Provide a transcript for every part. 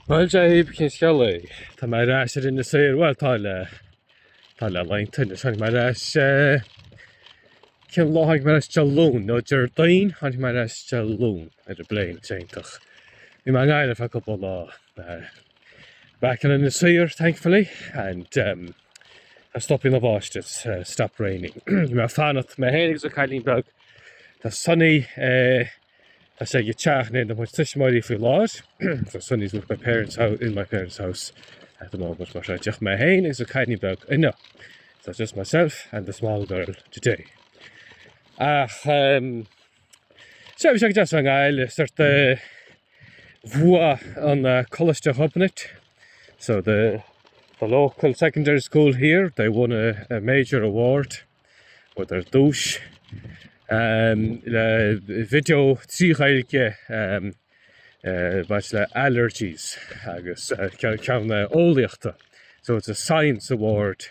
Bhuel, Jaiib, cén scéal é? Tá mé ar ais ar Inis Oírr, bhuel, tá le, tá le laethanta anois. Tháinig mé ar ais, eh, cén lá a tháinig mé ar ais? Dé Luain, no, Déardaoin a tháinig mé ar ais, Dé Luain, ar an bpléin, tá sé iontach. Bhí mé i nGaillimh feadh cúpla lá, eh, back in Inis Oírr, thankfully, and, em, tá sé stoptha ag báisteach, it's, eh, stopped raining. Bhí mé ag fanacht, mé féin agus mo chailín beag, tá Sonny, eh, Tá sé i dteach mo thuismitheoirí faoi láthair, so Sonny's with my parents house, in my parents house at the moment, mar seo, just mé féin agus an cailín beag inniu, so it's just myself and the small girl today. Ach ehm sea, bhí sé an-deas i nGaillimh, sórt do bhuaigh an Coláiste Ghobnait, so the local secondary school here, they won a major award, Ar dtús, le video trí Ghaeilge, maidir le allergies agus ceann eolaíochta. So it's a science award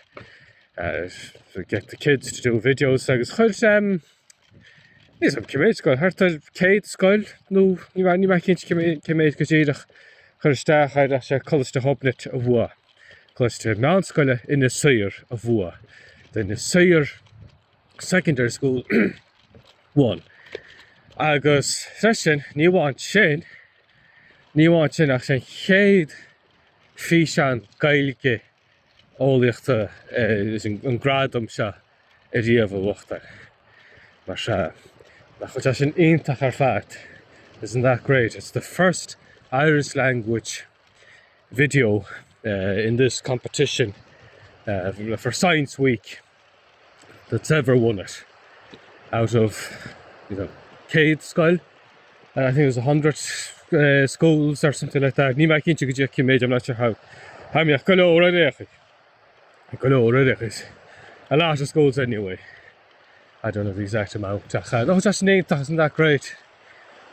to get the kids to do videos agus chuir, níl a fhios agam cé méid scoil, thart ar céad scoil nó níl mé cinnte cé méid go díreach, chuir isteach air is é Coláiste Ghobnait a bhuaigh. Coláiste meánscoile Inis Oírr a bhuaigh, the Inis Oírr Secondary School won agus freisin ní amháin sin, ní amháin sin ach is é an chéad físeán Gaeilge eolaíochta leis an gradam seo ariamh a bhuachtáil. Mar seo, nach bhfuil sé sin iontach ar fad, isn't that great, it's the first Irish language video in this competition for science week that's ever won it out of you know céad scoil and I think it was a hundred uh, schools or something like that ní me cinnte go dtí méid am leite ha ha mé go leir récha go leir réchas a lá a schools anyway I don't know the exact amount a cha nó just nétachas an that great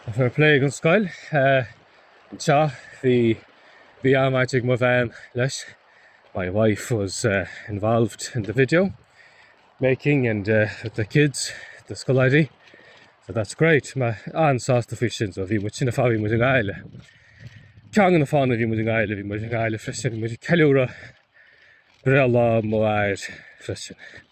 a fair play an scoil uh, Anseo bhí bhí baint ag mo bhean leis, my wife was involved in the video making and with the kids, the scoláirí, so that's great, mé an-sásta faoi sin, so bhí muid sin an fáth bhí muid i nGaillimh le ceann de na fáthanna bhí muid i nGaillimh, bhí muid i nGaillimh freisin, bhí muid ag ceiliúradh breithlá m'athar freisin.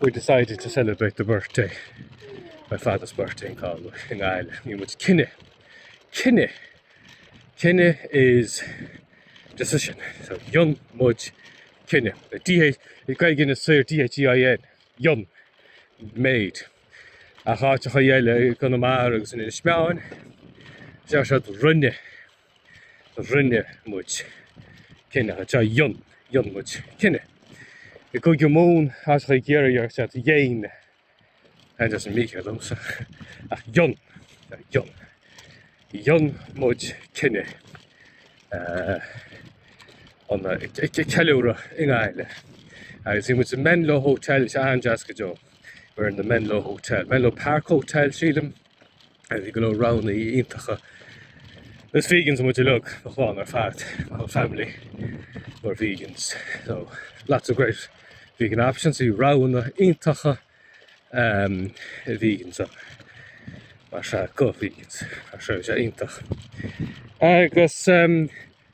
We decided to celebrate the birthday, my father's birthday in Galway, i nGaillimh. Dhein muid cinneadh. Cinneadh! Cinneadh is decision. So, dhein muid cinneadh. I nGaeilge Inis Oírr D-h-e-i-n, dhein, made. Ach áiteacha eile i gConamara agus in Inis Meáin, deir siad rinne. Rinne muid cinneadh, anseo, dhein, dhein muid cinneadh. I gCúige Mumhan, agus i gCiarraí déarfadh siad dhein, that doesn't make it though, so, ach dhein, that dhein, dhein muid cinneadh é a cheiliúradh i nGaillimh. Agus bhí muid sa Menlo Hotel, bhí sé an-deas go deo. We were in the Menlo Hotel, Menlo Park Hotel, sílim. Bhí go leor roghanna iontacha is vegans muid uilig, mo chlann ar fad, my whole family were vegans, so lots of great vegan options, bhí roghanna iontacha do vegans ann, mar sea, do vegans, mar sea, bhí sé iontach. Agus ehm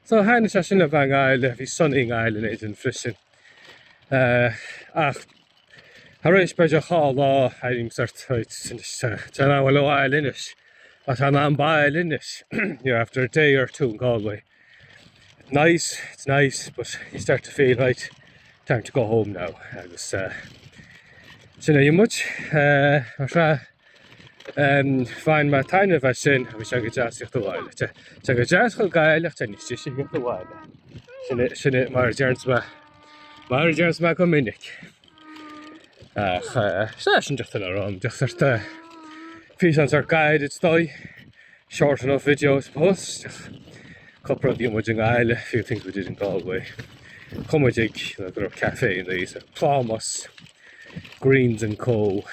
so thaitin sé sin linn bheith i nGaillimh, bhí muid sona i nGaillimh linn féin freisin eh ach Tar éis b'fhéidir dhá lá airím sort tá an bhfuil ó ail inis a tá an bail inis you know after a day or two in Galway it's nice it's nice but you start to feel right time to go home now agus uh, sin é pretty much uh, Bhain mé taitneamh as sin agus tá sé go deas a thíocht abhaile. Tá sé go deas dul go Gaillimh ach tá sé go deas a thíocht abhaile. Sin é mar a deireanns mé, mar a deireanns mé go minic. Ach sea, sin díreach le rá, díreach sórt físeán sách gairid is dóigh, short enough video I suppose. Cúpla rud a bhí muid i nGaillimh, a few things we did in Galway. Chuaigh muid ag, go dtí café inniu, Plámás. Greens and Co.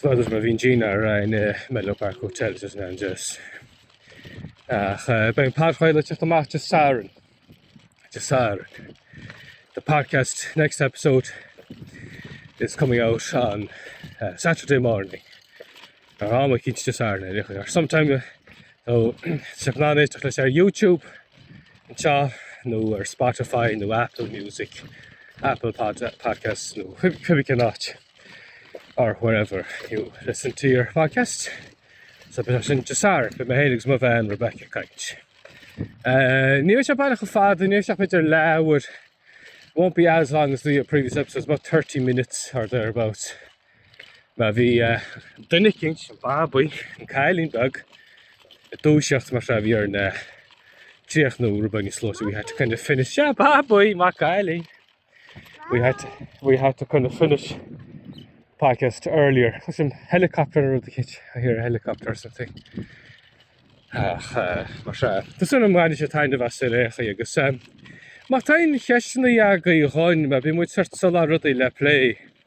Well d'fheil muid bhí muid dinnéar aréir sa Menlo Park Hotel is an Angels. Ach beidh an podchraoladh ag teacht amach Dé Sathairn. Dé Sathairn. The podcast next episode is coming out on Saturday morning. Nó am eicínt i rith an lae or sometime. So beidh sibh in ann éisteacht leis ar YouTube anseo nó ar Spotify nó Apple Music, Apple Podcasts nó cibé cén áit, or wherever you listen to your podcasts. So beidh sé sin Dé Sathairn. Beidh mé féin agus mo bhean Rebecca ag caint. Ní bheidh sé baileach chomh fada, ní bheidh sé ach b'fhéidir leathuair, won't be as long as the previous episodes, about thirty minutes or thereabouts. Mar bhí duine eicínt, an babaí, an cailín beag, ag dúiseacht mar sin, bhí orainn é a chríochnú, rud beag níos luaithe, we had to kind of finish, sea, babaí, maith an cailín! we had to, we had to kind of finish the podcast earlier. Tá sin helicopter nó rud eicínt, I hear a helicopter or something. Ach, mar sea, tá súil agam go mbainfidh sibh taitneamh as ar aon chaoi agus má tá aon cheisteanna agaibh dhúinn, mar bíonn muid sórt ag cuartú rudaí le plé,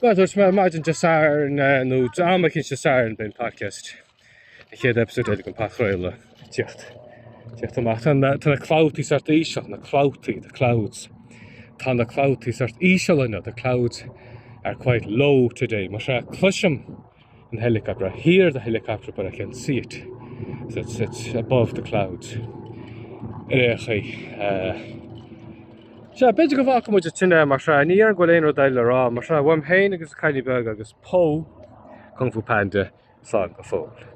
Well mar a dúirt mé maidin Dé Sathairn nó am eicínt Dé Sathairn beidh an podcast, an chéad episode eile den an Podchraoladh, ag teacht, teacht amach. Tá na, tá na clabhtaí sort íseal, na clabhtaí, the clouds. Tá na clabhtaí sort íseal inniu, the clouds are quite low today. Mar sea cloisim an helicopter. I hear the helicopter but I can't see it. So it's, it's above the clouds. Ar aon chaoi. Uh, Sea, b'fhéidir go bhfaca muid an tine mar sin, níl a fhios an bhfuil aon rud eile le rá, mar sin, uaim féin agus Kylie beag agus Pó, Kung Fu Panda, slán go fóill.